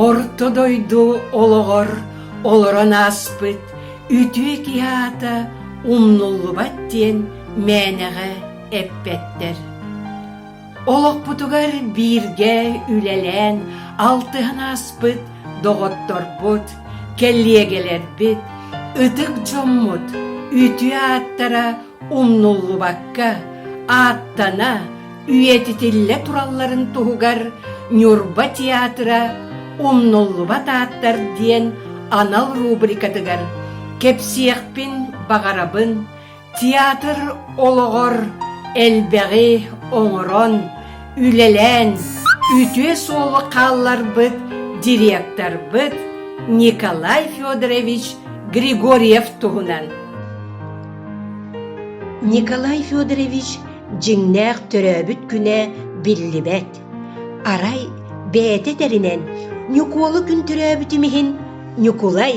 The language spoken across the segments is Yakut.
Орто дойду олоҕор олорон ааспыт үтүө киһи аата умнуллубат диэн мээнэҕэ эппэттэр. Олохпутугар бииргэ үлэлээн алтыһан ааспыт доҕотторбут, кэллиэгэлэрбит, ытык дьоммут үтүө ааттара умнуллубакка ааттана, үйэтитиллэ туралларын туһугар Ньурба театра умнуллубат ааттар диэн анал рубрикатыгар кэпсиэхпин баҕарабын Театр олоҕор элбэҕи оҥорон, үлэлээн үтүө суолу хаалларбыт директорбыт Николай Федорович Григорьев туһунан. Николай Федорович дьиҥнээх төрөөбүт күнэ биллибэт. Арай бэйэтэ этэринэн Ньукуолу күн төрөөбүтүм иһин Ньукулай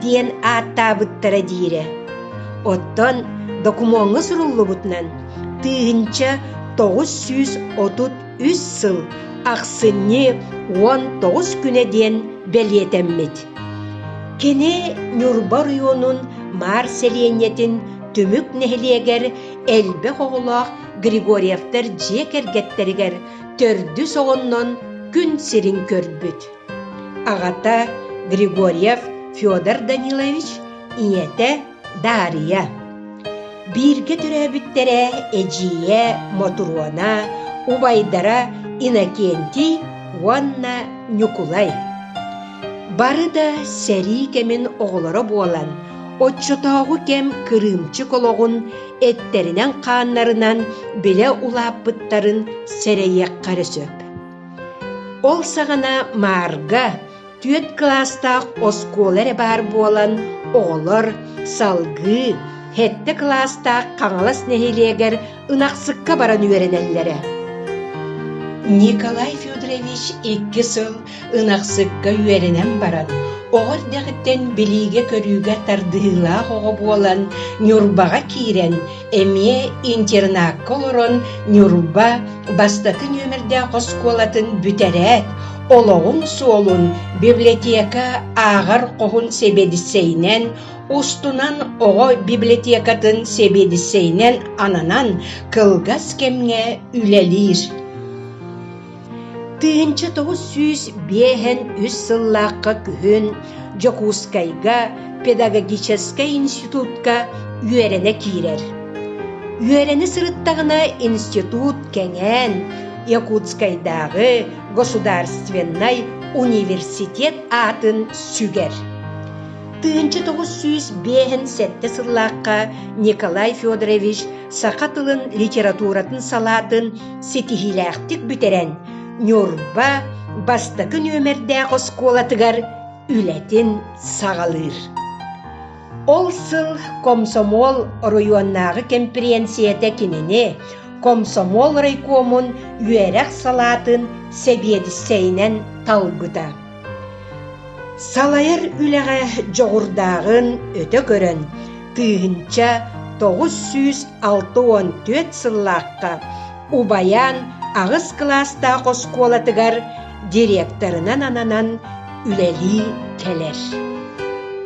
диэн ааттаабыттара диирэ. Оттон докумуоҥҥа суруллубутунан тыһыынча тоҕус сүүс отут үс сыл ахсынньы уон тоҕус күнэ диэн бэлиэтэммит. Кини Ньурба оройуонун Маар сэлиэнньэтин түмүк нэһилиэгэр элбэх оҕолоох Григорьевтар дьиэ кэргэттэригэр төрдүс оҕоннон күн сирин көрбүт. Аҕата Григорьев Федор Данилович, ийэтэ Дария. Бииргэ төрөөбүттэрэ эдьиийэ Мотуруона, убайдара Иннокентий уонна Ньукулай. Бары да сэрии кэмин оҕолоро буолан, оччотооҕу кэм кырыымчык олоҕун эттэринэн-хааннарынан билэ улааппыттарын сэрэйиэххэ эрэ сөп. Ол саҕана Маарга түөрт кылаастаах оскуола эрэ баар буолан, оҕолор салгыы хэттэ кылаастаах Хаҥалас нэһилиэгэр ынахсыкка баран үөрэнэллэрэ. Николай Федорович икки сыл Ынахсыкка үөрэнэн баран, оҕо эрдэҕиттэн билиигэ-көрүүгэ тардыһыылаах оҕо буолан, Ньурбаҕа киирэн, эмиэ интернакка олорон, Ньурба бастакы нүөмэрдээх оскуолатын бүтэрээт, олоҕун суолун библиотека ааҕар хоһун сэбиэдиссэйинэн, устунан оҕо библиотекатын сэбиэдиссэйинэн ананан, кылгас кэмҥэ үлэлиир. Тыһыынча тоҕус сүүс биэһэн үс сыллаахха күһүн Дьокуускайга педагогическай институтка үөрэнэ киирэр. Үөрэнэ сырыттаҕына институт кэҥээн, Якутскайдааҕы государственнай университет аатын сүгэр. Тыһыынча тоҕус сүүс биэһэн сэттэ сыллаахха Николай Федорович саха тылын литературатын салаатын ситиһиилээхтик бүтэрэн Ньурба бастакы нүөмэрдээх оскуолатыгар үлэтин саҕалыыр. Ол сыл комсомол оройуоннааҕы кэмпириэнсийэтэ кинини комсомол райкомун үөрэх салаатын сэбиэдиссэйинэн талбыта. Салайар үлэҕэ дьоҕурдааҕын өтө көрөн, тыыһынча тоҕус сүүс алта уон түөрт сыллаахха убайаан аҕыс кылаастаах оскуолатыгар директорынан ананан үлэлии кэлэр.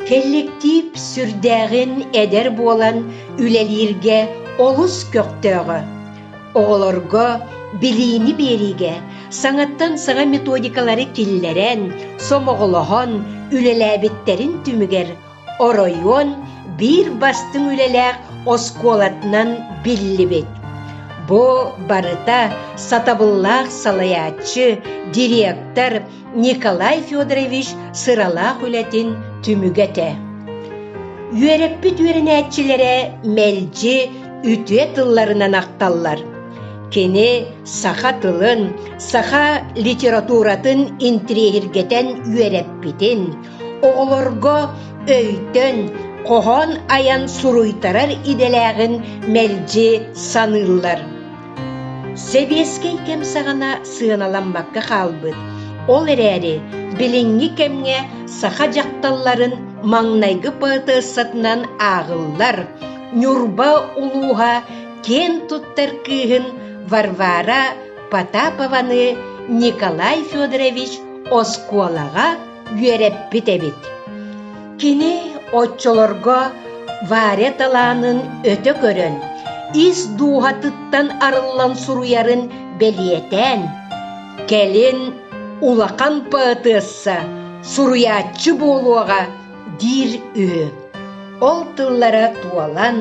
Кэлликтиип сүрдээҕин эдэр буолан үлэлииргэ олус көхтөөҕө. Оҕолорго билиини биэриигэ саҥаттан саҥа методикалары киллэрэн, сомоҕолоһон үлэлээбиттэрин түмүгэр оройуон биир бастыҥ үлэлээх оскуолатынан биллибит. Бу барыта сатабыллаах салайааччы, директор Николай Федорович сыралаах үлэтин түмүгэ этэ. Үөрэппит үөрэнээччилэрэ мэлдьи үтүө тылларынан ахталлар. Кини саха тылын, саха литературатын интириэһиргэтэн үөрэппитин, оҕолорго өйтөн, хоһоон айан суруйтарар идэлээҕин мэлдьи саныыллар. Сэбиэскэй кэм саҕана сыаналаммакка хаалбыт, ол эрээри билиҥҥи кэмҥэ саха дьахталларын маҥнайгы поэтессатынан ааҕыллар Ньурба улууһа киэн туттар кыыһын Варвара Потапованы Николай Федорович оскуолаҕа үөрэппит эбит. Кини оччолорго Варя талаанын өтө көрөн, ис дууһатыттан арыллан суруйарын бэлиэтээн, кэлин улахан поэтесса, суруйааччы буолуоҕа диир үһү. Ол тыллара туолан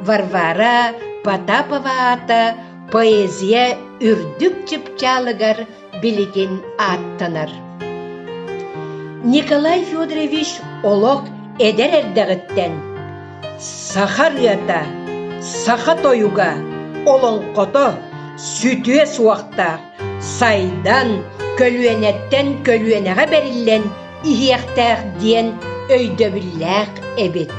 Варвара Потапова аата поэзия үрдүк чыпчаалыгар билигин ааттанар Николай Федорович олох эдэр эрдэҕиттэн саха ырыата, саха тойуга, олоҥхото сүтүө суохтаах, сайдан, көлүөнэттэн көлүөнэҕэ бэриллэн иһиэхтээх диэн өйдөбүллээх эбит.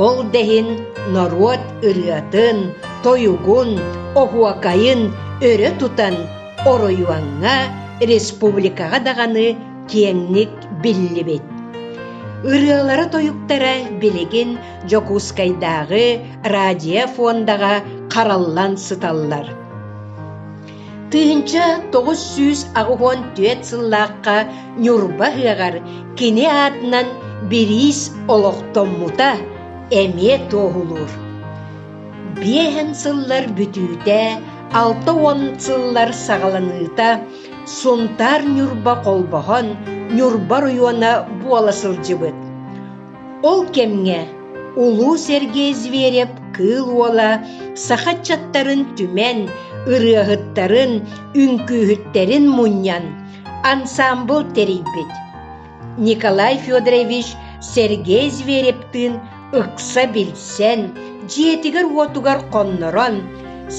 Ол да иһин норуот ырыатын, тойугун, оһуокайын өрө тутан Оройуоҥҥа, республикаҕа даҕаны киэҥник биллибит. Ырыалара-тойуктара билигин Дьокуускайдааҕы радиофондаҕа хараллан сыталлар. Тыһыынча тоҕус сүүс аҕыһыан түөрт сыллаахха Ньурба ыһыаҕар кини аатынан бириис олохтоммута эмиэ туоһулуур. Биэһэн сыллар бүтүүтэ алта уон сыллар саҕаланыыта Сунтаар Ньурба холбоһон Ньурба оройуона буола сылдьыбыт. Ол кэмҥэ улуу Сергей Зверев кыыл уола саха ыччаттарын түмэн, ырыаһыттарын, үҥкүүһүттэрин мунньан, ансаамбыл тэрийбит. Николай Федорович Сергей Зверевтыын ыкса билсэн, дьиэтигэр-уотугар хоннорон,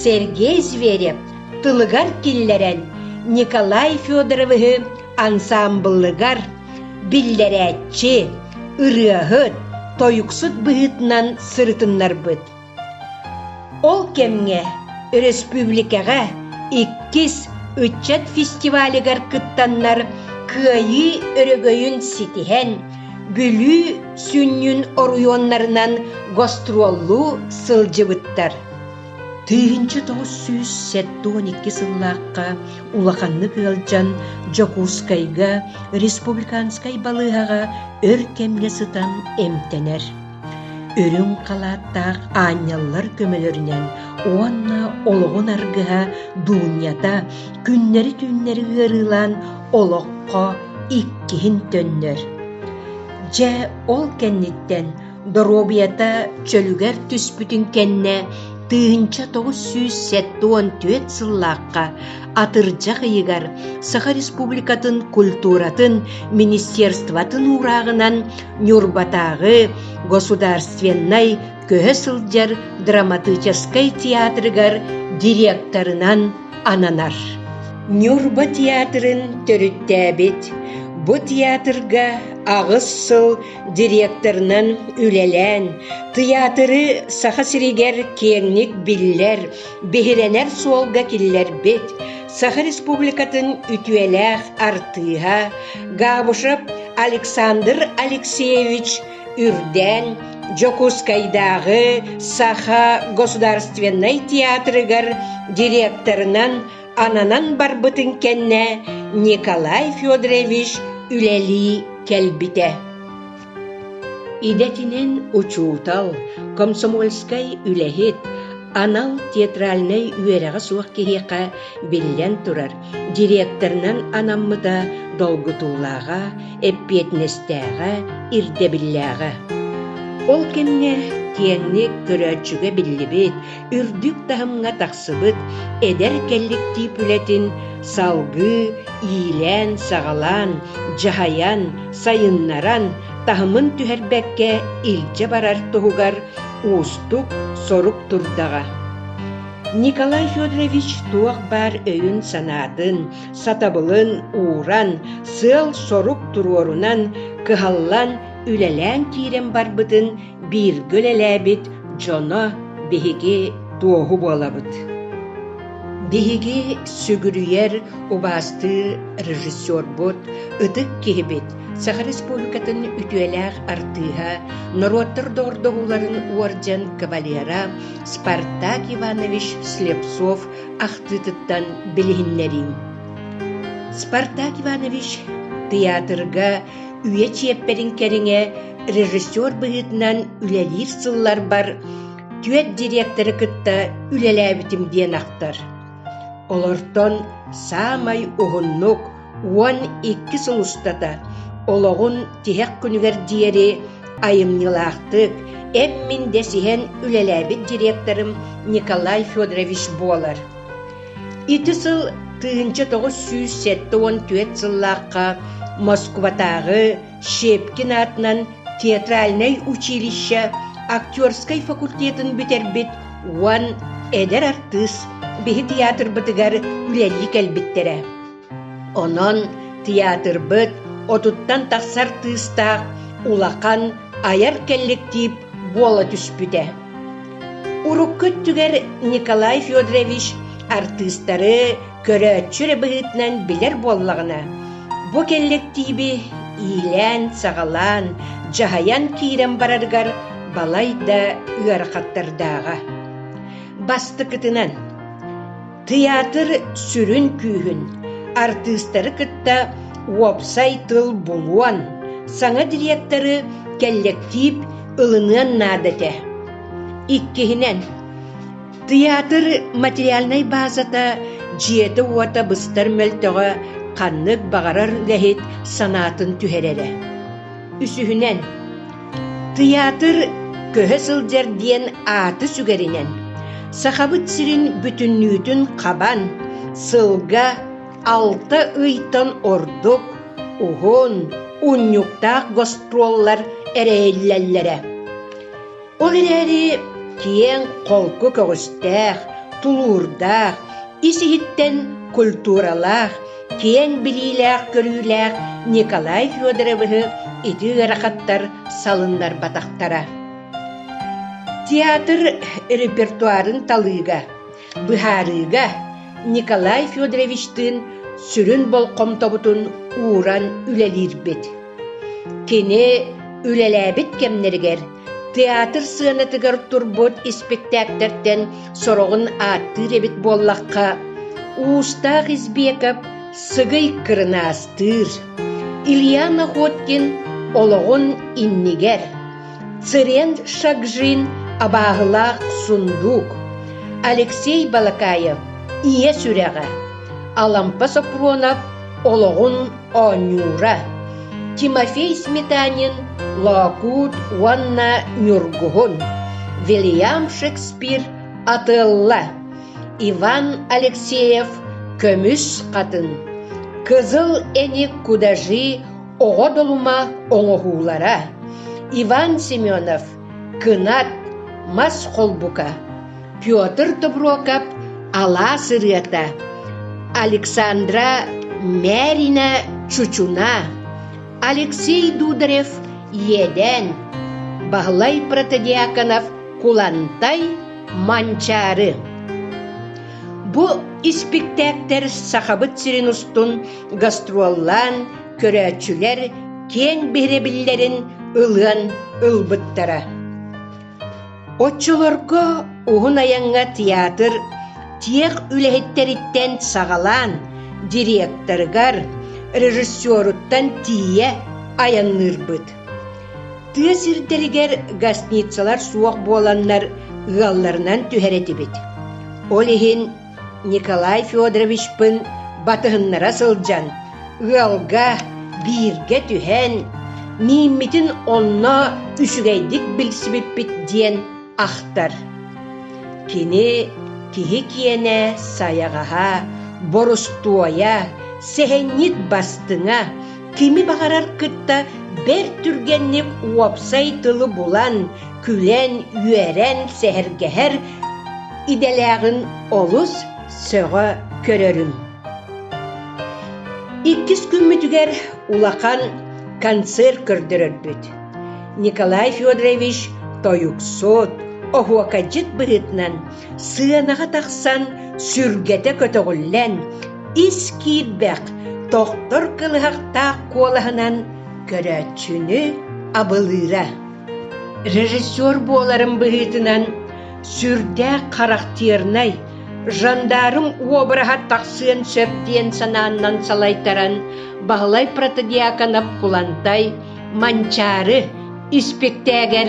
Сергей Зверев тылыгар киллэрэн Николай Федоровиһы ансаамбылыгар биллэрээччи, ырыаһыт, тойуксут быһыытынан сырытыннарбыт. Ол кэмҥэ өрөспүүбүлүкэҕэ иккис ыччат фестивалигар кыттаннар Кыайыы өрөгөйүн ситиһэн, Бүлүү сүнньүн оройуоннарынан гастроллуу сылдьыбыттар. Тыһыынча тоҕус сүүс сэттэ уон икки сыллаахха улаханнык ыалдьан Дьокуускайга республиканскай балыыһаҕа өр кэмҥэ сытан эмтэнэр. Үрүҥ халааттаах аанньаллар көмөлөрүнэн уонна олоҕун аргыһа Дуунньата күннэри-түүннэри ыарыылаан олоххо иккиһин төннөр. Дьэ, ол кэнниттэн доруобуйата чөлүгэр түспүтүн кэннэ тыһыынча тоҕус сүүс сэттэ уон түөрт сыллаахха атырдьах ыйыгар Саха Республикатын культуратын министерствотын уурааҕынан Ньурбатааҕы государственнай көһө сылдьар драматическай театрыгар директорынан ананар. Ньурба театрын төрүттээбит, бу театрга аҕыс сыл директорынан үлэлээн, тыйаатыры Саха сиригэр киэҥник биллэр, Биһирэнэр суолга киллэрбит Саха Республикатын үтүөлээх артыыһа Габышев Александр Алексеевич Үрдээн Дьокуускайдааҕы Саха государственнай театрыгар директорынан ананан барбытын кэннэ Николай Федорович үлэлии кэлбитэ. Идэтинэн учуутал, комсомольскай үлэһит, анал театральнай үөрэҕэ суох киһиэхэ, биллэн турар, директорынан анаммыта долгутуулааҕа, эппиэтинэстээҕэ, ирдэбиллээҕэ. Ол кэмҥэ тиэнник, көрөөччүгэ биллибит, үрдүк таһымҥа тахсыбыт эдэр кэлликтиип үлэтин салгыы иилээн-саҕалаан, дьаһайан, сайыннаран, таһымын түһэрбэккэ илдьэ барар туһугар уустук сорук турдаҕа. Николай Федорович туох баар өйүн-санаатын, сатабылын ууран, сыал-сорук туруорунан, кыһаллан, үлэлээн киирэн барбытын Бииргэ үлэлээбит дьоно биһиги туоһу буолабыт Биһиги сүгүрүйэр, убаастыы режиссербут, ытык киһибит, Саха Республикатын үтүөлээх артыыһа, норуоттар доҕордоһууларын уордьан кавалера Спартак Иванович Слепцов ахтыытыттан билиһиннэриим. Спартак Иванович тыйаатырга үйэ чиэппэрин кэриҥэ режиссер быһыытынан үлэлиир сылларбар түөрт директоры кытта үлэлээбитим диэн ахтар. Олортон саамай уһуннук уон икки сыл устата олоҕун тиһэх күнүгэр диэри айымньылаахтык, эм-мин дэсиһэн үлэлээбит директорым Николай Федорович буолар. Ити сыл тыһыынча тоҕус сүүс сэттэ уон түөрт сыллаахха Москубатааҕы Щепкин аатынан театральнай училище актерскай факультетын бүтэрбит уон эдэр артыыс биһи тыйаатырбытыгар үлэлии кэлбиттэрэ Онон тыйаатырбыт отуттан тахсар тыыстаах улахан айар кэлликтиип буола түспүтэ. Урукку өттүгэр Николай Федорович артыыстары көрөөччү эрэ быһыытынан билэр буоллаҕына, бу кэлликтииби иилээн-саҕалаан, дьаһайан киирэн барарыгар балай да ыарахаттардааҕа. Бастыкытынан Тыйаатыр сүрүн күүһүн, артыыстары кытта уопсай тыл булуон, саҥа дириэктэри кэллэктиип ылыныан наада этэ. Иккиһинэн, тыйаатыр материальнай баазата дьиэтэ-уота быстар мөлтөҕө ханнык баҕарар үлэһит санаатын түһэрэрэ. Үсүһүнэн, Тыйаатыр көһө сылдьар диэн ааты сүгэринэн, Сахабыт сирин бүтүннүүтүн хабан, сылга алта ыйтан ордук уһун, унньуктаах гастроллар эрэйиллэллэрэ. Ол эрээри киэҥ, холку көҕүстээх, тулуурдаах, ис-иһиттэн культуралаах, киэҥ билиилээх-көрүүлээх Николай Федоровиһы ити ыарахаттар салыннарбатахтара. Театр репертуарын талыыга, быһаарыыга Николай Федоровичтыын сүрүн болҕомтобутун ууран үлэлиирбит. Кини үлэлээбит кэмнэригэр Театр сыанатыгар турбут испэктээктэртэн сороҕун ааттыыр эбит буоллахха, Уустаах Избеков сыгый кырынаастыыр, Илья Находкин олоҕун иннигэр, Цирен Шагжин абааһылаах сундуук, Алексей Балакаев ийэ сүрэҕэ, Алампа Сопронов олоҕун оонньуура Тимофей Сметанин «Лоокуут уонна Ньургуһун» Вильям Шекспир атылла Иван Алексеев көмүс хатын Кызыл эник кудажи оҕо долума оҥоһуулара Иван Семенов кынат мас холбука Петр Доброкап алаас ырыата Александра Мярина чучуна Алексей Дударев иэдээн Баһылай Протодиаконов Кулантай Манчаары Бу испиктээктэр Сахабыт сирин устун гастроллаан көрөөччүлэр киэҥ биһирэбиллэрин ылыан ылбыттара. Оччолорго уһун айаҥҥа театр тиэх үлэһиттэриттэн саҕалаан директорыгар, режиссеруттан тиийэ айанныырбыт. Тыа сирдэригэр гостиницалар суох буоланнар ыалларынан түһэр этибит. Ол иһин Николай Федоровичпын батыһыннара сылдьан, ыалга, бииргэ түһэн, мииммитин онно үчүгэйдик билсибиппит диэн ахтар. Кини киһи киэнэ, сайаҕаһа, борустуойа, сэһэнньит бастыҥа, кими баҕарар кытта бэрт түргэнник уопсай тылы булан, күлэн, үөрэн, сэһэргэһэр идэлээҕин олус сөҕө көрөрүм. Иккис күммүтүгэр улахан концерт көрдөрөрбүт. Николай Федорович тойуксут, оһуокайдьыт быһыытынан сыанаҕа тахсан сүргэтэ көтөҕүллэн, ис киирбэх, тохтор кылыһахтаах куолаһынан көрөөччүнү абылыыра. Режиссер буоларым быһыытынан сүрдээх характернай жандарм уобараһа тахсыан сөп диэн санааннан салайтаран баһылай протодьяконов кулантай манчаары испиктээгэр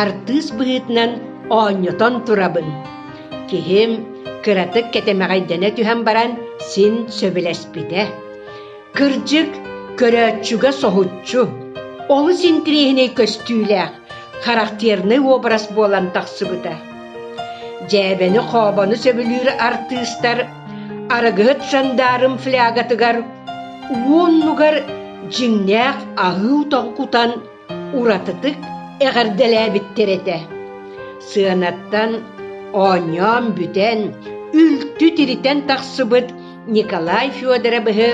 артыыс быһыытынан оонньотон турабын киһим кыратык кэтэмэҕэйдэнэ түһэн баран син сөбүлэспитэ Кырдьык, көрөөччүгэ соһуччу, олус интириэһинэй көстүүлээх, характернай уобарас буолан тахсыбыта. Дьээбэни-хообону сөбүлүүр артыыстар арыгыһыт Жандаарым флягатыгар уоннугар дьиҥнээх аһыы утан кутан уратытык эҕэрдэлээбиттэр этэ сыанаттан оонньоон бүтэн үлтү тиритэн тахсыбыт николай федоровыһы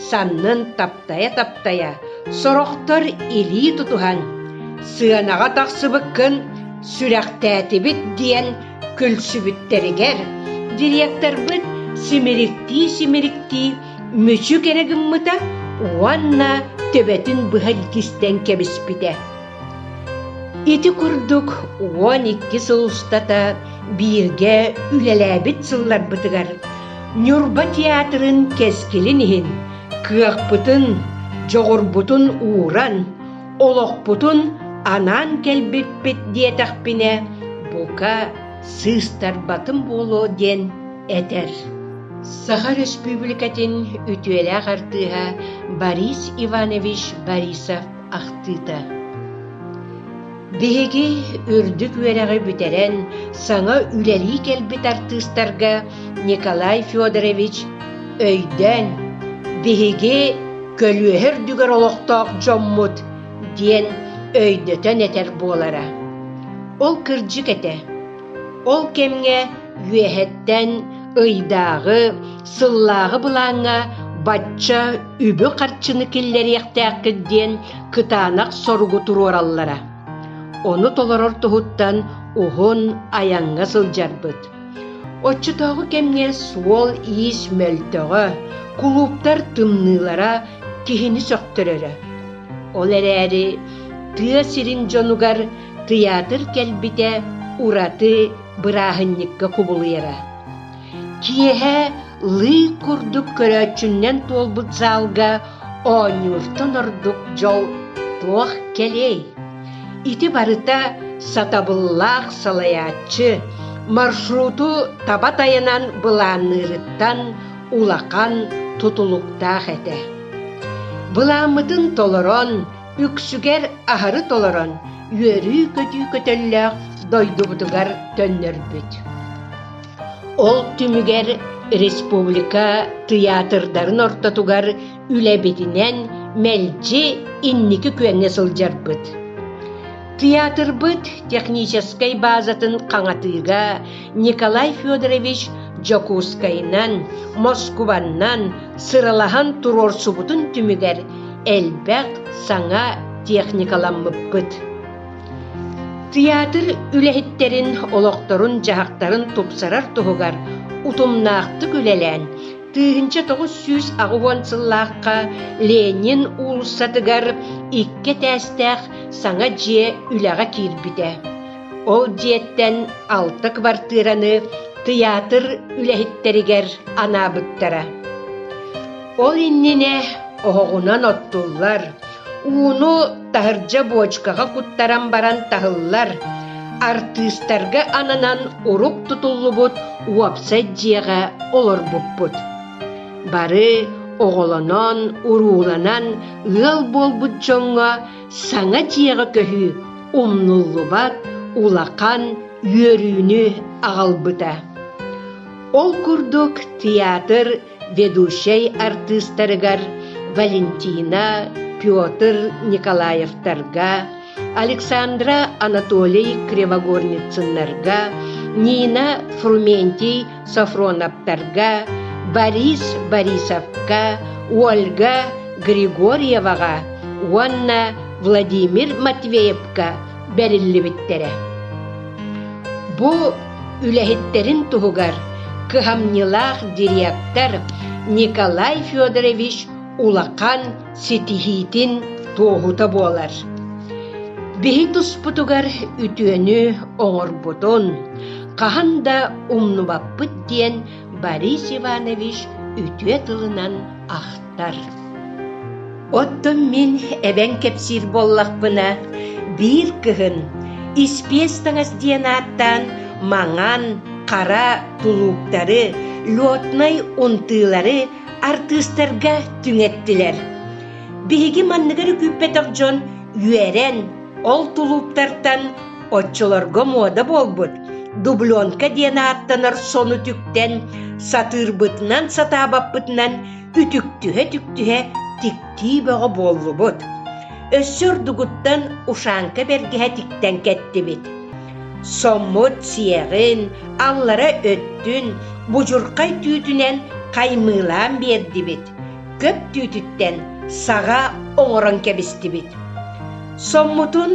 саннын таптайа-таптайа сорохтор илии тутуһан сыанаҕа тахсыбыккын сүрэхтээтибит диэн күлсүбүттэригэр директорбыт симириктии-симириктии мүчүк эрэ гыммыта уонна төбөтүн быһа илгистэн кэбиспитэ. Ити курдук уон икки сыл устата бииргэ үлэлээбит сылларбытыгар Ньурба театрын кэскилин иһин кыахпытын, дьоҕурбутун ууран, олохпутун анаан кэлбиппит диэтэхпинэ, бука, сыыстарбатым буолуо диэн этэр Саха Өрөспүүбүлүкэтин үтүөлээх артыыһа Борис Иванович Борисов ахтыыта Биһиги үрдүк үөрэҕи бүтэрэн саҥа үлэлии кэлбит артыыстарга Николай Федорович өйдөөн биһиги көлүөһэ үрдүгэр олохтоох дьоммут диэн өйдөтөн этэр буолара. Ол кырдьык этэ. Ол кэмҥэ үөһэттэн ыйдааҕы, сыллааҕы былааҥҥа бачча үбү-харчыны киллэриэхтээххит диэн кытаанах соругу туруораллара. Ону толорор туһуттан уһун айаҥҥа сылдьарбыт. Оччотооҕу кэмҥэ суол-иис мөлтөҕө, кулууптар тымныылара киһини сөхтөрөрө. Ол эрээри тыа сирин дьонугар тыйаатыр кэлбитэ ураты бырааһынньыкка кубулуйара. Киэһэ лыы курдук көрөөччүннэн туолбут заалга оонньууртан ордук дьол туох кэлиэй? Ити барыта сатабыллаах салайааччы маршруту таба тайанан былаанныырыттан улахан тутулуктаах этэ. Былааммытын толорон, үксүгэр аһары толорон, үөрүү-көтүү көтөллөөх дойдубутугар төннөрбүт. Ол түмүгэр республика тыйаатырдарын ортотугар Үлэбитинэн мэлдьи инники күөҥҥэ сылдьарбыт. Тыйаатырбыт техническэй баазатын хаҥатыыга Николай Федорович Дьокуускайынан, Москубаннан сыралаһан туруорсубутун түмүгэр элбэх саҥа техникаламмыппыт. Тыйаатыр үлэһиттэрин олохторун-дьаһахтарын тупсарар туһугар утумнаахтык үлэлээн Тыһыынча тоҕус сүүс аҕыһыан сыллаахха Ленин уулуссатыгар икки этээстээх саҥа дьиэ үлэҕэ киирбитэ. Ол дьиэттэн алта кыбартыыраны тыйаатыр үлэһиттэригэр анаабыттара. Ол иннинэ оһоҕунан оттуллар, Ууну таһырдьа буочукаҕа куттаран баран таһыллар, артыыстарга ананан урук тутуллубут уопсай дьиэҕэ олорбуппут. Бары оҕолонон, урууланан ыал буолбут дьоҥҥо саҥа дьиэҕэ көһүү умнуллубат улахан үөрүүнү аҕалбыта. Ол курдук театр ведущай артыыстарыгар Валентина, Петр Николаевтарга, Александра Анатолий Кривогорницыннарга, Нина Фрументий Софроновтарга, Борис Борисовка, Ольга Григорьеваҕа уонна Владимир Матвеевка бэриллибиттэрэ. Бу үлэһиттэрин туһугар кыһамньылаах директор Николай Федорович улахан ситиһиитин туоһута буолар. Биһи туспутугар үтүөнү оҥорбутун, хаһан да умнубаппыт диэн Борис Иванович үтүө тылынан ахтар. ааспыттар. Оттон мин эбэҥ кэпсиир буоллахпына, биир кыһын испиэс таҥас диэн ааттаан маҥан, хара тулууктары, летнай унтуулары артыыстарга түҥэттилэр. Биһиги манныгары күүппэтэх дьон үөрэн, ол тулууптартан оччолорго муода буолбут дубленка диэн ааттанар сону түктэн, сатыырбытынан сатаабаппытынан Үтүктүһэ-үтүктүһэ тиктии бөҕө буоллубут. Өссө ордугуттан ушанка бэргэһэ тиктэн кэттибит. Соммут сиэҕин, аллара өттүн, будьурхай түүтүнэн хаймыылаан биэрдибит. Көп түүтүттэн саҕа оҥорон кэбистибит. Соммутун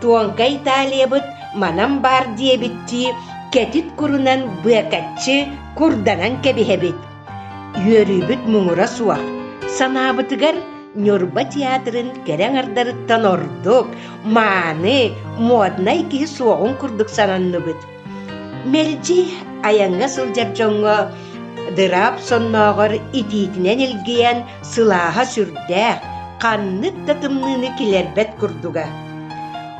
Туоҥка Италиябыт манан баар диэбиттии кэтит курунан быакаччы курданан кэбиһэбит. Үөрүүбүт муҥура суох, санаабытыгар Ньурба театрын кэрэ аҥардарыттан ордук, мааны, моднай киһи суоҕун курдук сананныбыт. Мэлдьи айаҥҥа сылдьар дьоҥҥо дыраап соннооҕор итиитинэн илгийэн сылааһа сүрдээх, ханнык да тымныыны килэрбэт курдуга.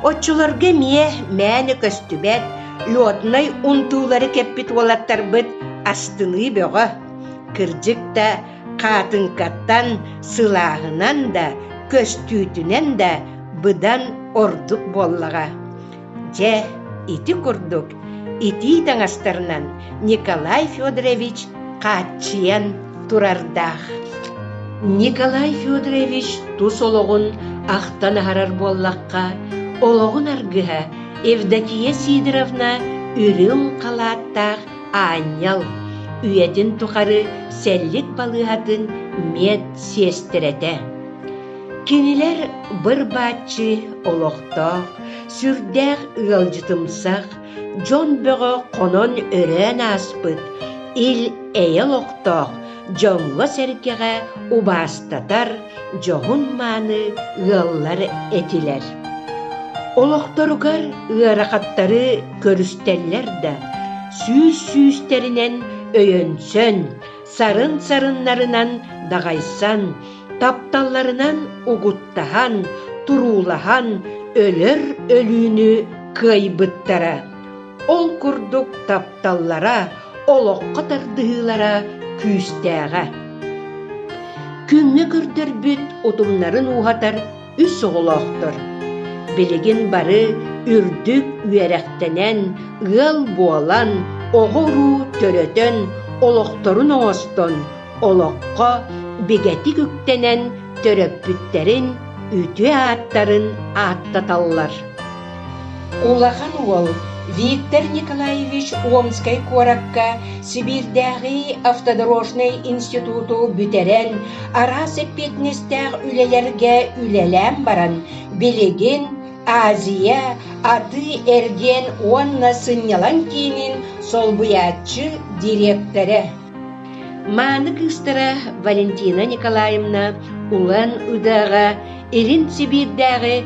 Оччолорго эмиэ мээнэ көстүбэт, лёднай унтуулары кэппит уолаттарбыт астыныы бөҕө. Кырдьык да, хаатыҥкаттан, сылааһынан да, көстүүтүнэн да быдан ордук буоллаҕа. Дьэ, ити курдук итии таҥастарынан Николай Федорович хааччыйан турардаах. Николай Федорович тус олоҕун ахтан аһарар буоллахха, олоҕун аргыһа Евдокия Сидоровна үрүҥ халааттаах аанньал үйэтин тухары сэллик балыыһатын мед-сиэстэрэтэ. Кинилэр быр-бааччы олохтоох, Сүрдээх ыалдьытымсах, дьон бөҕө хонон-өрөөн ааспыт, ил-эйэ олохтоох, дьоҥҥо-сэргэҕэ убаастатар, дьоһун-мааны ыаллар этилэр. Олохторугар ыарахаттары көрүстэллэр да, сүүс-сүүстэринэн өйөнсөн, сарын-сарыннарынан даҕайсан, тапталларынан угуттаһан, туруулаһан өлөр өлүүнү кыайбыттара. Ол курдук тапталлара, олоххо тардыһыылара күүстээҕэ. Күҥҥэ көрдөрбүт утумнарын ууһатар үс оҕолоохтор. Билигин бары үрдүк үөрэхтэнэн, ыал буолан, оҕо-уруу төрөтөн, олохторун оҥостон, олоххо бигэтик үктэнэн төрөппүттэрин үтүө ааттарын ааттаталлар. Улахан уол Виктор Николаевич Омскай куоракка Сибиирдээҕи автодорожнай институту бүтэрэн араас эппиэтинэстээх үлэлэргэ үлэлээн баран билигин Азия, атыы-эргиэн уонна сынньалаҥ киинин солбуйааччы дириэктэрэ Мааны кыыстара Валентина Николаевна Улан Удэ-ҕа Илин Сибиирдээҕи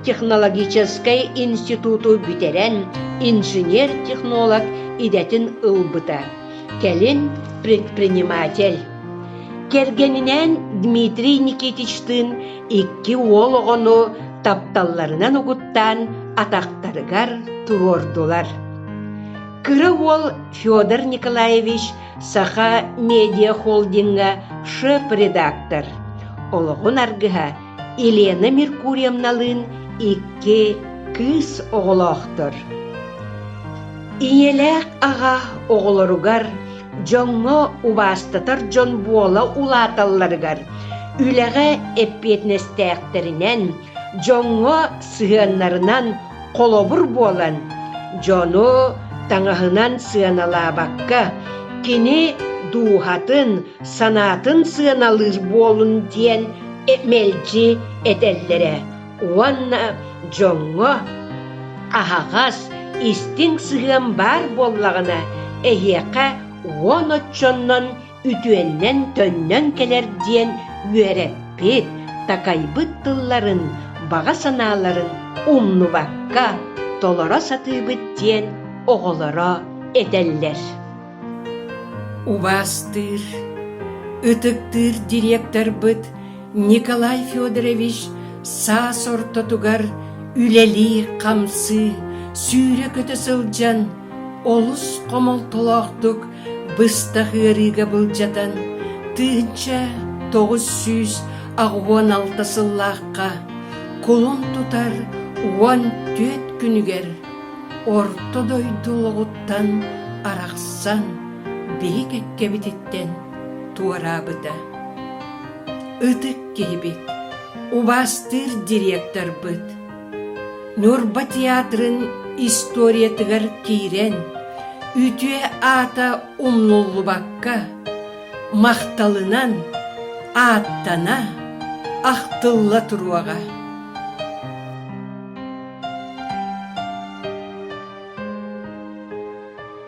технологическай институту бүтэрэн инженер-технолог идэтин ылбыта, кэлин предприниматель. Кэргэнинээн Дмитрий Никитичтыын икки уол оҕону тапталларынан угуттаан атахтарыгар туруордулар. Кыра уол Федор Николаевич Саха медиахолдиҥҥа шеф-редактор, олоҕун аргыһа Елена Меркурьевналыын икки кыыс оҕолоохтор. Ийэлээх аҕа оҕолоругар, дьоҥҥо убаастатар дьон буола улааталларыгар, үлэҕэ эппиэтинэстээхтэринэн, дьоҥҥо сыһыаннарынан Холобур буолан, дьону таҥаһынан сыаналаабакка, кини дууһатын, санаатын сыаналыыр буолун диэн мэлдьи этэллэрэ уонна дьоҥҥо аһаҕас, истиҥ сыһыан баар буоллаҕына, эһиэхэ уон оччоннон үтүөннэн төннөн кэлэр диэн үөрэппит, такайбыт тылларын, баҕа санааларын умнубакка толоро сатыыбыт диэн оҕолоро этэллэр. Убастыыр, ытыктыыр директорбыт Николай Федорович саас ортотугар үлэлии-хамсыы, сүүрэ-көтө сылдьан олус хомолтолоохтук быстах ыарыыга былдьатан тыынча тоҕус сүүс аҕыйах алта сыллаахха кулун тутар уон түөрт күнүгэр орто дойду олоҕуттан арахсан биһик эккэбититтэн туораабыта ытык киһибит убаастыыр директорбут Ньурба театрын историятыгар киирэн, үтүө аата умнуллубакка, махталынан ааттана, ахтылла туруоҕа.